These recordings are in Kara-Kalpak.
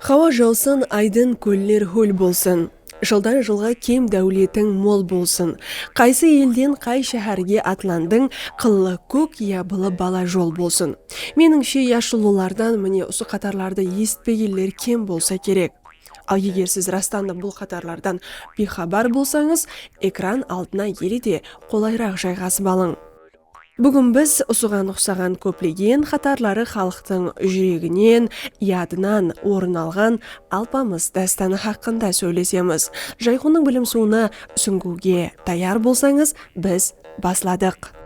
Hawa jawsın, aydın, kóller hól bolsın, Jıldan jılǵa kem dáwletiń mol bolsın, Qaysı elden qay sháhárge atlandıń, Qıllı kók ya bılı bala jol bolsın. Menińshe yashullılardan mine usı qatarlardı esitpegenler kem bolsa kerek. Al eger siz rastandı bul qatarlardan biyxabar bolsańız, ekran aldına ele de qolayraq jayǵasıp alıń. Búgin biz usıǵan uqsaǵan kóplegen qatarları xalıqtıń júreginen, yadınan orın alǵan Alpamıs dástanı haqqında sóylesemiz. Jayxonnıń bilim suwına súńgiwge tayar bolsańız, biz basladıq.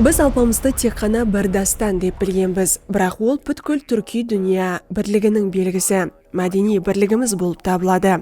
Biz Alpamıstı tek ǵana bir dástan dep bilgenbiz, biraq ol pútkil túrkiy dúnya birliginiń belgisi, mádeniy birligimiz bolıp tabıladı.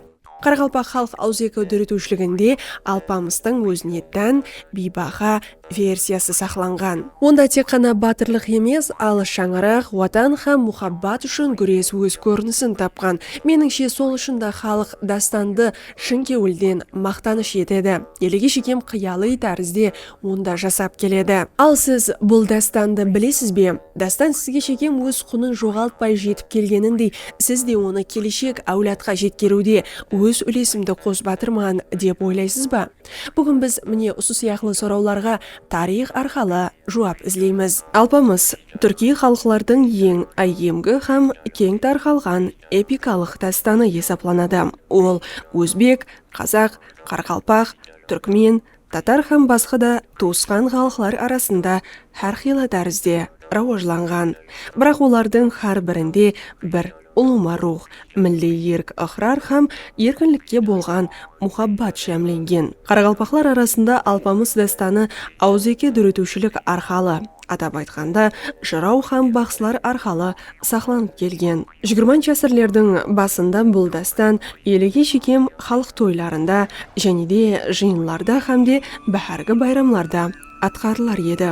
Qaraqalpaq xalıq awızeki dóretiwshiliginde Alpamıstıń ózine tán biybaha versiyası saqlanǵan. Onda tek ǵana batırlıq emes, al shańaraq, Watan hám muhabbat ushın gúres óz kórinisin tapqan. Menińshe, sol ushın da xalıq dástandı Shın kewilden maqtanısh etedi. Elege shekem qıyaliy tárizde onda jasap keledi. Al siz bul dástandı bilesiz be? Dástan sizge shekem óz qunın joǵaltpay jetip kelgenindey siz de onı keleshek áwladqa jetkeriwde óz úlesimdi qosıp atırman dep oylaysız ba? Búgin biz mine usı sıyaqlı sorawlarǵa tariyx arqalı juwap izleymiz. Alpamıs, túrkiy xalıqlardıń eń áyyemgi hám keń tarqalǵan epikalıq dástanı esaplanadı. Ol ózbek, qazaq, qaraqalpaq, túrkmen, tatar hám basqa da tuwısqan xalıqlar arasında hár qıylı tárizde rawajlanǵan. Biraq olardıń hár birinde bir ulıwma ruwx, milliy erk-ıqrar hám erkinlikke bolǵan muhabbat jámlengen. Qaraqalpaqlar arasında Alpamıs dástanı awızeki dóretiwshilik arqalı, Atap aytqanda, jıraw hám baqsılar arqalı saqlanıp kelgen. Jigirmanshı ásirlerdiń basında bul dástan elege shekem xalıq toylarında, jáne de jıyınlarda hám de báhárgi bayramlarda atqarılar edi.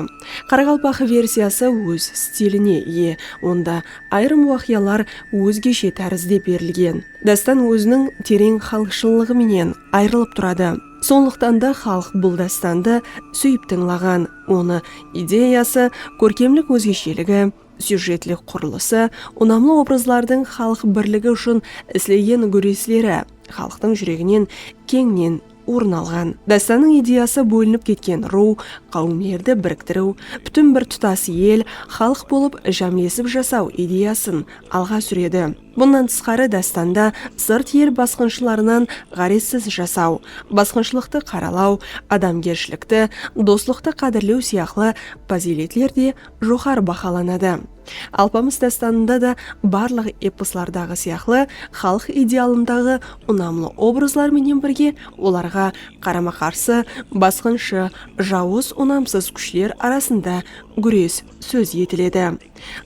Qaraqalpaq versiyası óz stiline iye, onda ayırım waqıyalar ózgeshe tárizde berilgen. Dástan óziniń tereń xalıqshıllıǵı menen ayrılıp turadı. Sonlıqtan da xalıq bul dástandı súyip tıńlaǵan. Onı ideyası, kórkemlik ózgesheligi, syujetlik qurılısı, unamlı obrazlardıń xalıq birligi ushın islegen gúresleri xalıqtıń júreginen keńnen orın alǵan. Dástannıń ideyası bólinip ketken ruw, qáwimlerdi biriktiriw, pútin bir tutas el, xalıq bolıp jámlesip jasaw ideyasın alǵa súredi. Bunnan tısqarı dástanda sırt el basqınshılarınan ǵárezsiz jasaw, basqınshılıqtı qaralaw, adamgershilikti, doslıqtı qádirlew sıyaqlı pazıyletler de joqarı bahalanadı. Alpamıs dástanında da barlıq eposlardaǵı sıyaqlı xalıq idealındaǵı unamlı obrazlar menen birge olarǵa qarama-qarsı basqınshı, jawız unamsız kúshler arasında gúres sóz etiledi.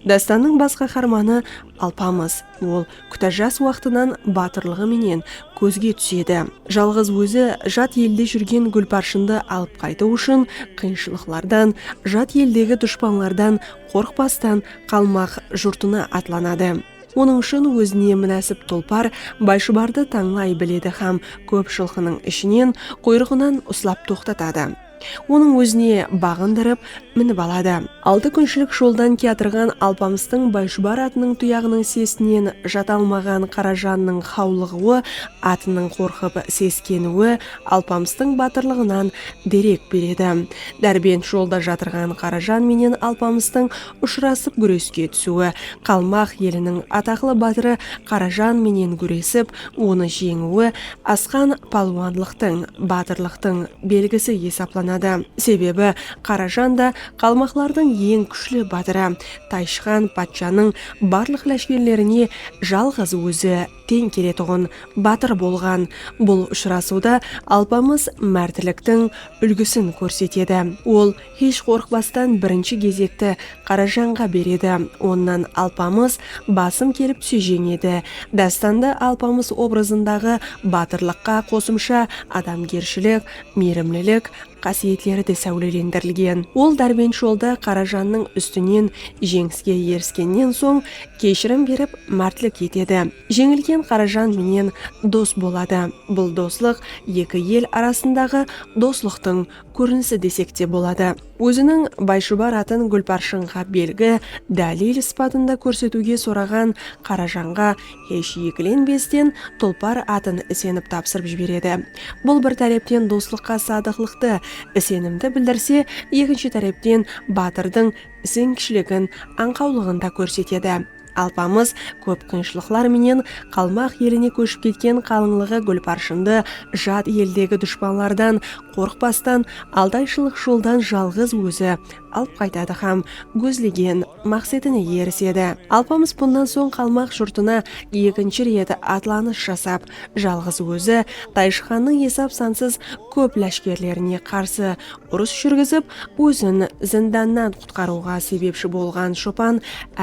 Dástannıń bas qaharmanı Alpamıs. Ol kútá jas waqtınan batırlıǵı menen kózge túsedi. Jalǵız ózi jat elde júrgen Gúlparshındı alıp qaytıw ushın qıyınshılıqlardan, jat eldegi dushpanlardan qorqpastan qalmaq jurtına atlanadı. Onıń ushın ózine múnásip tulpar Bayshıbardı tańlay biledi hám kóp jılqınıń ishinen quyrıǵınan uslap toqtatadı. Onıń ózine baǵındırıp, minip aladı. Altı kúnshilik joldan kiyatırǵan Alpamıstıń Bayshıbar atınıń tuyaǵınıń sesinen jata almaǵan Qarajannıń xawlıǵıwı, atınıń qorqıp seskeniwi Alpamıstıń batırlıǵınan derek beredi. Dárbent jolda jatırǵan Qarajan menen Alpamıstıń ushırasıp gúreske túsiwi, qalmaq eliniń ataqlı batırı Qarajan menen gúresip, Onı jeńiwi asqan palwanlıqtıń, batırlıqtıń belgisi esaplanadı. Sebebi Qarajan da qalmaqlardıń eń kúshli batırı, Tayshıxan patshanıń barlıq láshkerlerine jalǵız ózi teń keletuǵın batır bolǵan. Bul ushırasıwda Alpamıs mártliktiń úlgisin kórsetedi. Ol. Hesh qorqpastan birinshi gezekti Qarajanǵa beredi. Onnan Alpamıs, basım kelip Sújeń edi. Dástanda Alpamıs obrazındaǵı batırlıqqa qosımsha adamgershilik, miyrimlilik qásiyetleri de sáwlelendirilgen. Ol dárbent jolda Qarajannıń ústinen jeńiske eriskennen soń keshirim berip mártlik etedi. Jeńilgen Qarajan menen dos boladı. Bul doslıq eki el arasındaǵı doslıqtıń kórinisi desek te boladı. Óziniń Bayshubar atın Gúlparshinǵa belgi, dálil, sıpatında kórsetiwge soraǵan Qarajanǵa hesh ekilenbesden Tulpar atın isenip tapsırıp jiberedi. Bul bir tárepten doslıqqa sadıqlıqtı, isenimdi bildirse, ekinshi tárepten batırdıń isengishiligin, ańqawlıǵın da kórsetedi. Alpamıs kóp qıyınshılıqlar menen Qalmaq eline kóship ketken qalıńlıǵı gúlparshındı jat eldegi dushpanlardan qorqpastan altayshılıq joldan jalǵız ózi alıp qaytadı hám gózlegen maqsetine erisedi. Alpamıs bunnan soń Qalmaq jurtına ekinshi ret atlanıs jasap, jalǵız ózi Tayshı xannıń esap-sansız kóp láshkerlerine qarsı urıs júrgizip, ózin zindannan Qutqarıwǵa sebepshi bolǵan shopan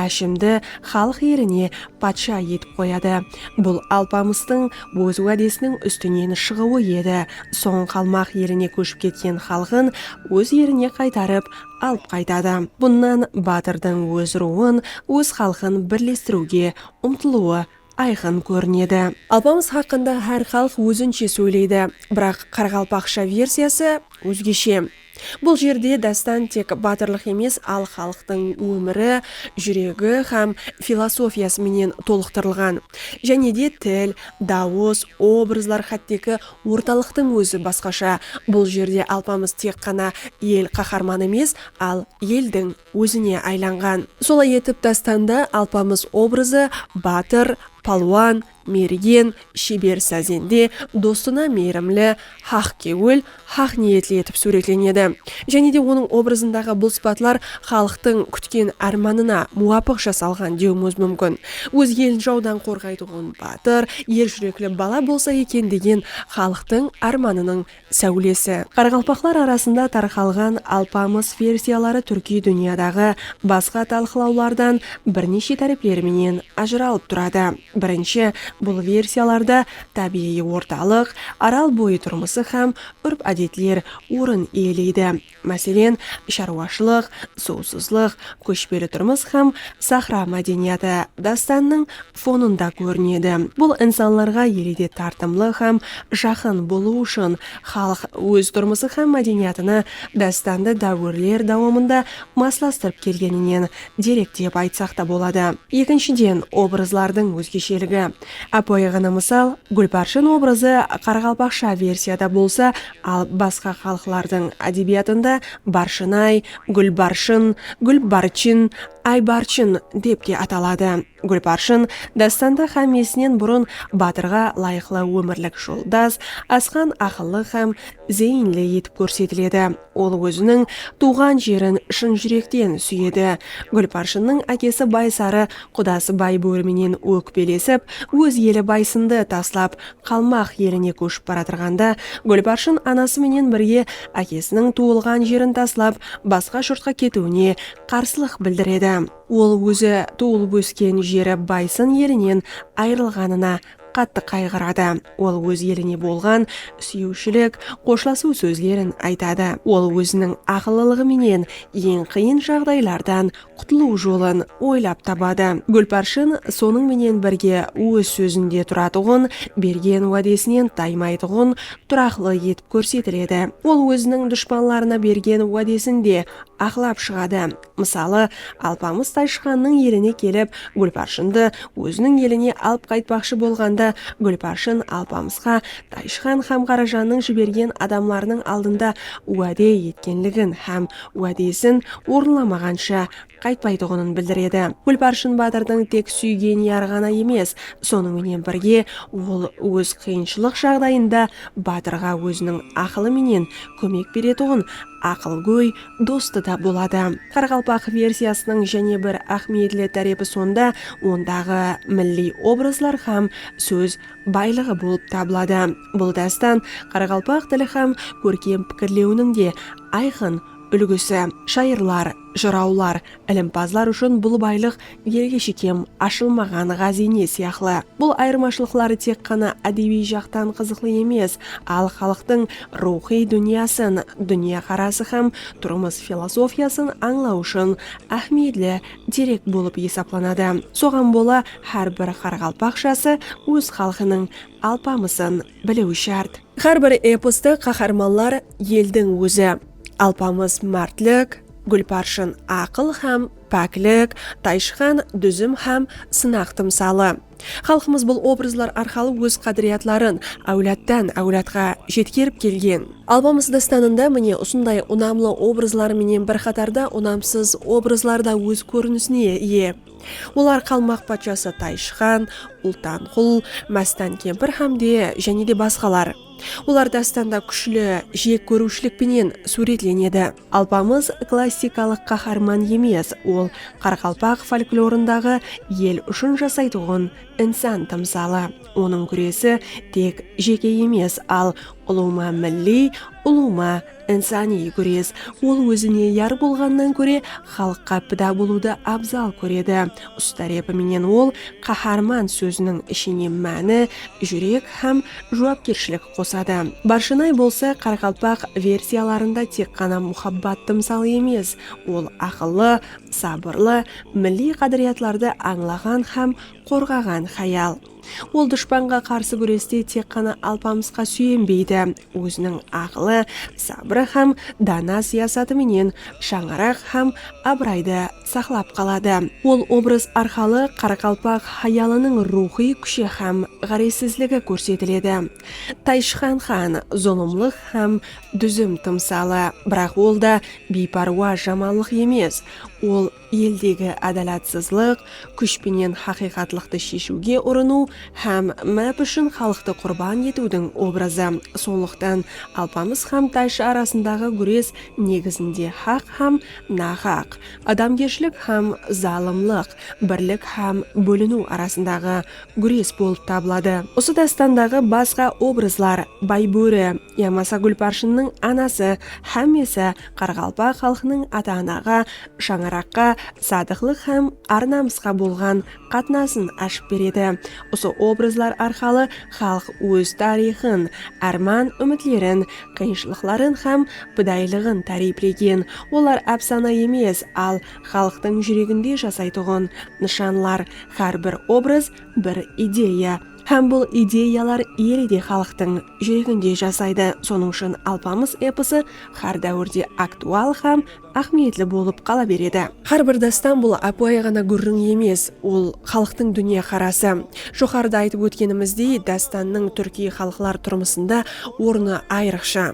Áshimdi xalıq eline patsha etip qoyadı. Bul Alpamıstıń óz wádesiniń ústinen shıǵıwı edi. Soń Qalmaq eline kóship ketken xalqın óz erine qaytarıp alıp qaytadı. Bunnan batırdıń óz ruwın, óz xalqın birlestiriwge umtılıwı ayqın kórinedi. Alpamıs haqqında hár xalıq ózinshe sóyleydi, biraq qaraqalpaqsha versiyası ózgeshe. Bul jerde dástan tek batırlıq emes, al xalıqtıń ómiri, júregi hám filosofiyası menen tolıqtırılǵan. Jáne de til, dawıs, obrazlar xátteki ortalıqtıń ózi basqasha. Bul jerde Alpamıs tek ǵana el qaharmanı emes, al eldiń. ózine aylanǵan. Solay etip dástanda Alpamıs obrazı batır, palwan, mergen, sheber sazende, dostına miyrimli, haq kewil, haq niyetli etip súwretlenedi. Jáne de onıń obrazındaǵı bul sıpatlar xalıqtıń kútken ármanına muwapıq jasalǵan dewimiz múmkin. Óz elin jawdan qorǵaytuǵın batır, er júrekli bala bolsa eken degen xalıqtıń ármanınıń sáwlesi. Qaraqalpaqlar arasında tarqalǵan Alpamıs versiyaları túrkiy dúnyadaǵı basqa talqılawlardan birneshe tárepleri menen ajıralıp turadı. Birinshi, bul versiyalarda tábiyǵıy ortalıq, Aral boyı turmısı hám úrp-ádetler orın iyeleydi. Máselen, sharwashılıq, suwsızlıq, kóshpeli turmıs hám sahra mádeniyatı dástannıń fonında kórinedi. Bul insanlarǵa elede tartımlı hám jaqın bolıw ushın xalıq óz turmısı hám mádeniyatını dástandı dáwirler dawamında maslastırıp kelgeninen derek dep aytsaq ta boladı. Ekinshiden, obrazlardıń ózgesheligi. Ápiwayıǵana mısal, Gúlpárshen obrazı qaraqalpaqsha versiyada bolsa, Al basqa xalıqlardıń ádebiyatında Barshınay, Gúlbarshın, Gúlbarchin, Aybarchin dep te ataladı. Gúlbarshın dástanda xámmesinen burın batırǵa layıqlı ómirlik joldas, asqan aqıllı hám zeyinli etip kórsetiledi. Ol óziniń tuwǵan jerin shın júrekten súyedi. Gúlbarshınnıń ákesi Baysarı qudası Baybóri menen ókpelesip, óz eli Baysındı taslap, Qalmaq eline kóship baratırǵanda Gúlparshın anası menen birge ákesiniń tuwılǵan jerin taslap, basqa jurtqa ketiwine qarsılıq bildiredi. Ol ózi tuwılıp-ósken jeri Baysın elinen ayırılǵanına qattı qayǵıradı. Ol óz eline bolǵan súyiwshilik, xoshlasıw sózlerin aytadı. Ol óziniń aqıllılıǵı menen eń qıyın jaǵdaylardan qutılıw jolın oylap tabadı. Gúlpárshin sonıń menen birge óz sózinde turatuǵın, bergen wádesinen taymaytuǵın, turaqlı etip kórsetiledi. Ol óziniń dushpanlarına bergen wádesin de aqlap shıǵadı. Mısalı, Alpamıs Tayshıǵannıń eline kelip, Gúlpárshındı óziniń eline alıp qaytpaqshı bolǵanda, Gúlpárshın Alpamısqa Tayshıǵan hám Qarajannıń jibergen adamlarınıń aldında wáde etkenligin hám Wádesin orınlamaǵansha qaytpaytuǵının bildiredi. Gúlparshin batırdıń tek súygen yarı ǵana emes, sonıń menen birge ol óz qıyınshılıq jaǵdayında batırǵa óziniń aqılı menen kómek beretuǵın aqılgóy dostı da boladı. Qaraqalpaq versiyasınıń jáne bir áhmiyetli tárepi sonda ondaǵı milliy obrazlar hám sóz baylıǵı bolıp tabıladı. Bul dástan qaraqalpaq tili hám kórkem pikirlewiniń de ayqın úlgisi. Shayırlar, jırawlar, ilimpazlar ushın bul baylıq elge shekem ashılmaǵan ǵáziyne sıyaqlı. Bul ayırmashılıqları tek ǵana ádebiy jaqtan qızıqlı emes, al xalıqtıń ruwxıy dúnyasın, dúnyaqarası hám turmıs filosofiyasın ańlaw ushın áhmiyetli derek bolıp esaplanadı. Soǵan bola hár bir qaraqalpaqshası óz xalqınıń Alpamısın biliwi shárt. Hár bir eposta qaharmanlar eldiń ózi, Alpamıs mártlik, Gúlparshın aqıl hám páklik, Tayshıxan dúzim hám sınaq tımsalı. Xalqımız bul obrazlar arqalı óz qádiriyatların áwladtan áwladqa jetkerip kelgen. Alpamıs dástanında mine usınday unamlı obrazlar menen bir qatarda unamsız obrazlar da óz kórinisine iye. Olar Qalmaq patshası Tayshıxan, Ultanqul, Mástan kempir hám de jáne de basqalar. Olar dástanda kúshli jek kóriwshilik penen súwretlenedi. Alpamıs klassikalıq qaharman emes, ol qaraqalpaq folklorındaǵı el ushın jasaytuǵın insan tımsalı. Onıń gúresi tek jeke emes, al, ulıwma milliy, ulıwma Insaniy gúres, ol ózine yar bolǵannan kóre xalıqqa pida bolıwdı abzal kóredi. Usı tárepi menen ol Qaharman sóziniń ishine máni, júrek hám juwapkershilik qosadı. Barshanay bolsa qaraqalpaq versiyalarında tek ǵana muhabbat tımsalı emes, ol aqıllı, sabırlı, milliy qádiriyatlardı ańlaǵan hám qorǵaǵan hayal. Ol dushpanǵa qarsı gúreste tek ǵana Alpamısqa súyenbeydi, óziniń aqılı, sabırı hám dana siyasatı menen shańaraq hám abıraydı saqlap qaladı. Ol obraz arqalı qaraqalpaq hayalınıń ruwxıy kúshi hám ǵárezsizligi kórsetiledi. Tayshıxan xan, zulımlıq hám dúzim tımsalı, biraq ol da biypárwa jamanlıq emes, ol, eldegi ádalatsızlıq, kúsh penen haqıyqatlıqtı sheshiwge urınıw hám máp ushın xalıqtı qurban etiwdiń obrazı. Sonlıqtan Alpamıs hám Tayshı arasındaǵı gúres negizinde haq hám nahaq, adamgershilik hám zalımlıq, birlik hám bóliniw arasındaǵı gúres bolıp tabıladı. Usı dástandaǵı basqa obrazlar, Baybóri yamasa Gúlparshinnıń anası hámmesi Qaraqalpaq xalqınıń ata-anaǵa, shańaraqqa, sadıqlıq hám ar-namısqa bolǵan qatnasın ashıp beredi. Usı obrazlar arqalı xalıq óz tariyxın, árman-úmitlerin, qıyınshılıqların hám pidayılıǵın táriyplegen. Olar ápsana emes, al xalıqtıń júreginde jasaytuǵın nıshanlar, hár bir obraz, bir ideya. Hám bul ideyalar ele de xalıqtıń júreginde jasaydı. Sonıń ushın Alpamıs eposı hár dáwirde aktual hám áhmiyetli bolıp qala beredi. Hár bir dástan bul ápiwayı ǵana gúrriń emes, ol xalıqtıń dúnyaqarası. Joqarıda aytıp ótkenimizdey, dástannıń túrkiy xalıqlar turmısında ornı ayrıqsha.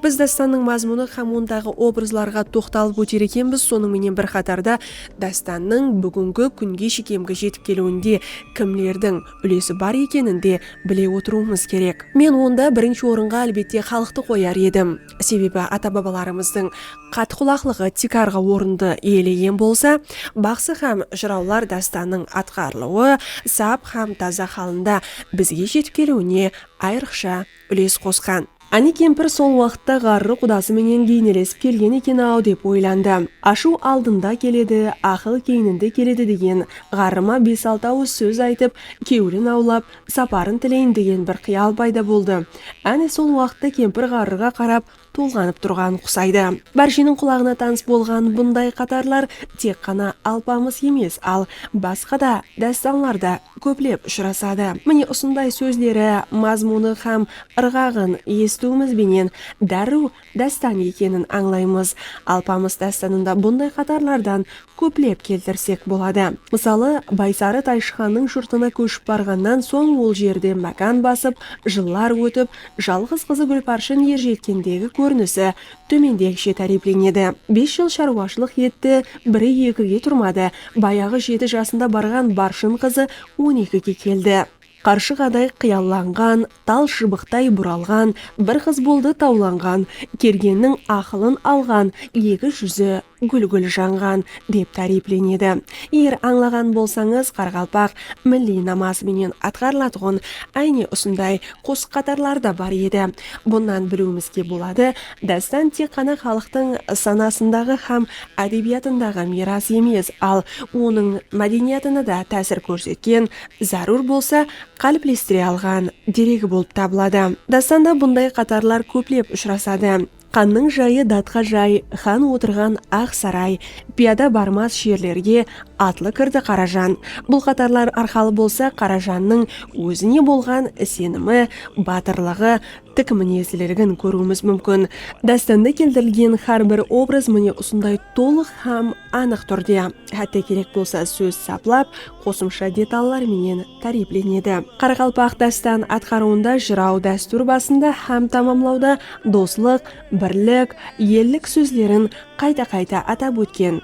Biz dástannıń mazmunı hám ondaǵı obrazlarǵa toqtalıp óter ekenbiz, sonıń menen bir qatarda dástannıń búgingi kúnge shekemgi jetip keliwinde kimlerdiń úlesi bar ekenin de bile otırıwımız kerek. Men onda birinshi orınǵa álbette xalıqtı qoyar edim. Sebebi ata-babalarımızdıń Qat qulaqlıǵı tiykarǵı orındı iyelegen bolsa, baqsı hám jırawlar dástannıń atqarılıwı sap hám taza halında bizge jetip keliwine ayrıqsha úles qosqan. Áne kempir sol waqıtta ǵarrı qudası menen geynelesip kelgen eken-aw dep oylandı. Ashıw aldında keledi, aqıl keyninde keledi degen ǵarrıma bes-altı awız sóz aytıp, kewlin awlap, saparın tileyin degen bir qıyal payda boldı. Áne sol waqıtta kempir ǵarrıǵa qarap tolǵanıp turǵanın qusaydı. Bársheniń qulaǵına tanıs bolǵan bunday qatarlar tek ǵana Alpamıs emes, al, basqa da dástanlarda kóplep ushırasadı. Mine usınday sózleri, mazmunı hám ırǵaǵın esitiwimiz benen dárriw dástan ekenin ańlaymız. Alpamıs dástanında bunday qatarlardan kóplep keltirsek boladı. Mısalı, Baysarı Tayshıxannıń jurtına kóship barǵannan soń ol jerde mákan basıp, jıllar ótip, jalǵız qızı Gúlparshın erjetkendegi kórinisi tómendegishe táriyplenedi, Bes jıl sharwashılıq etti, biri ekige turmadı, bayaǵı jeti jasında barǵan Barshın qızı on ekige keldi. Qarshıǵaday qıyallanǵan, tal shıbıqtay buralǵan, bir qız boldı tawlanǵan, kergenniń aqılın alǵan, eki júzi gúl-gúl janǵan, dep táriyplenedi. Eger ańlaǵan bolsańız, qaraqalpaq milliy namazı menen atqarılatuǵın áyne usınday qosıq-qatarları da bar edi. Bunnan biliwimizge boladı, dástan tek ǵana xalıqtıń sanasındaǵı hám ádebiyatındaǵı miyras emes, al onıń mádeniyatına da tásir kórsetken zárúr bolsa, qáliplestire alǵan, deregi bolıp tabıladı. Dástanda bunday qatarlar kóplep ushırasadı. Xannıń jayı datqa jay, xan otırǵan aq saray, piyada barmas jerlerge atlı kirdi Qarajan. Bul qatarlar arqalı bolsa Qarajannıń ózine bolǵan isenimi, batırlıǵı, tik minezliligin kóriwimiz múmkin. Dástanda keltirilgen xár bir obraz mine usınday tolıq hám anıq túrde, hátte kerek bolsa sóz saplap, qosımsha detallar menen táriyplenedi. Qaraqalpaq dástan atqarıwında jıraw dástúr basında hám tamamlawda doslıq, birlik, ellik sózlerin qayta-qayta atap ótken.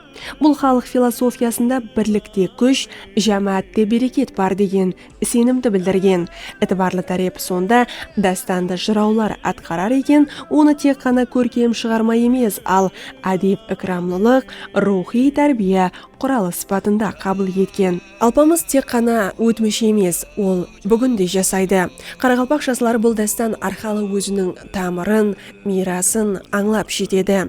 Bul xalıq filosofiyasında birlikte kúsh, jámáátte bereket bar degen isenimdi bildirgen. Itibarlı tárepi sonda, dástandı jırawlar atqarar eken, onı tek ǵana kórkem shıǵarma emes, al, ádep-ikramlılıq, ruwxıy tárbiya, quralı sıpatında qabıl etken. Alpamıs tek ǵana ótmish emes, ol búgin de jasaydı. Qaraqalpaq jasları bul dástan arqalı óziniń tamırın, miyrasın ańlap jetedi.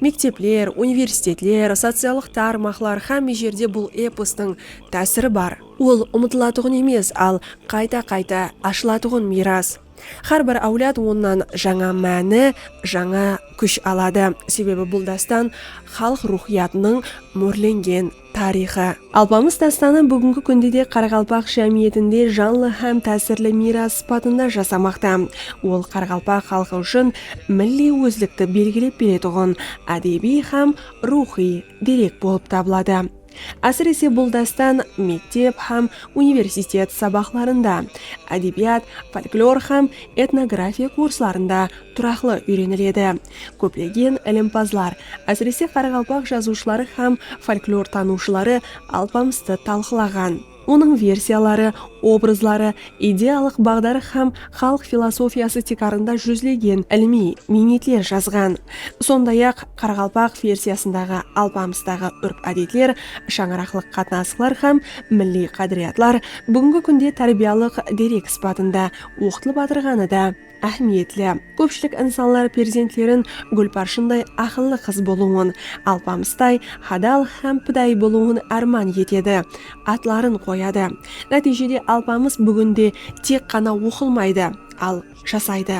Mektepler, universitetler, sociallıq tar maqlar xámme jerde bul epostıń tásiri bar. Ol umıtılatuǵın emes, al qayta-qayta ashılatuǵın miyras. Hár bir áwlad onnan jańa máni, jańa kúsh aladı. Sebebi bul dástan xalıq ruwxıyatınıń mórlengen tariyxı. Alpamıs dástanı búgingi kúnde de qaraqalpaq jámiyetinde janlı hám tásirli miyras sıpatında jasamaqta. Ol qaraqalpaq xalqı ushın milliy ózlikti belgilep beretuǵın ádebiy hám ruwxıy derek bolıp tabıladı. Ásirese bul dástan mektep hám universitet sabaqlarında, ádebiyat, folklor hám etnografiya kurslarında turaqlı úyreniledi. Kóplegen ilimpazlar, ásirese qaraqalpaq jazıwshıları hám folklortanıwshıları Alpamıstı talqılaǵan. Onıń versiyaları, obrazları, ideyalıq baǵdarı hám xalıq filosofiyası tiykarında júzlegen ilimiy miynetler jazǵan. Sonday-aq, qaraqalpaq versiyasındaǵı Alpamıstaǵı úrp-ádetler, shańaraqlıq qatnasıqlar hám milliy qádiriyatlar búgingi kúnde tárbiyalıq derek sıpatında oqıtılıp atırǵanı da, Áhmiyetli. Kópshilik insanlar perzentlerin Gúlparshınday aqıllı qız bolıwın, Alpamıstay hadal hám pidayı bolıwın árman etedi, atların qoyadı. Nátiyjede Alpamıs búginde tek ǵana oqılmaydı, al, jasaydı,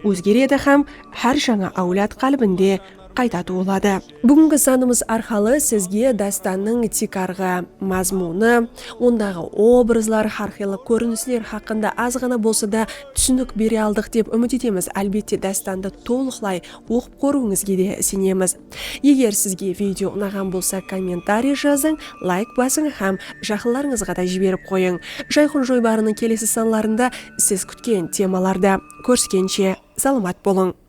ózgeredi hám hár jańa áwlad qálbinde qayta tuwıladı. Búgingi sanımız arqalı sizge dástannıń tiykarǵı mazmunı, ondaǵı obrazlar, hárqıylı kórinisler haqqında azǵana bolsa da túsinik bere aldıq dep úmit etemiz. Álbette, dástandı tolıqlay oqıp kóriwińizge de isenemiz. Eger sizge video unaǵan bolsa, kommentariy jazıń, layk basıń hám jaqınlarıńızǵa da jiberip qoyıń. Jayqon joybarınıń kelesi sanlarında siz kútken temalarda kóriskenshe, salamat bolıń!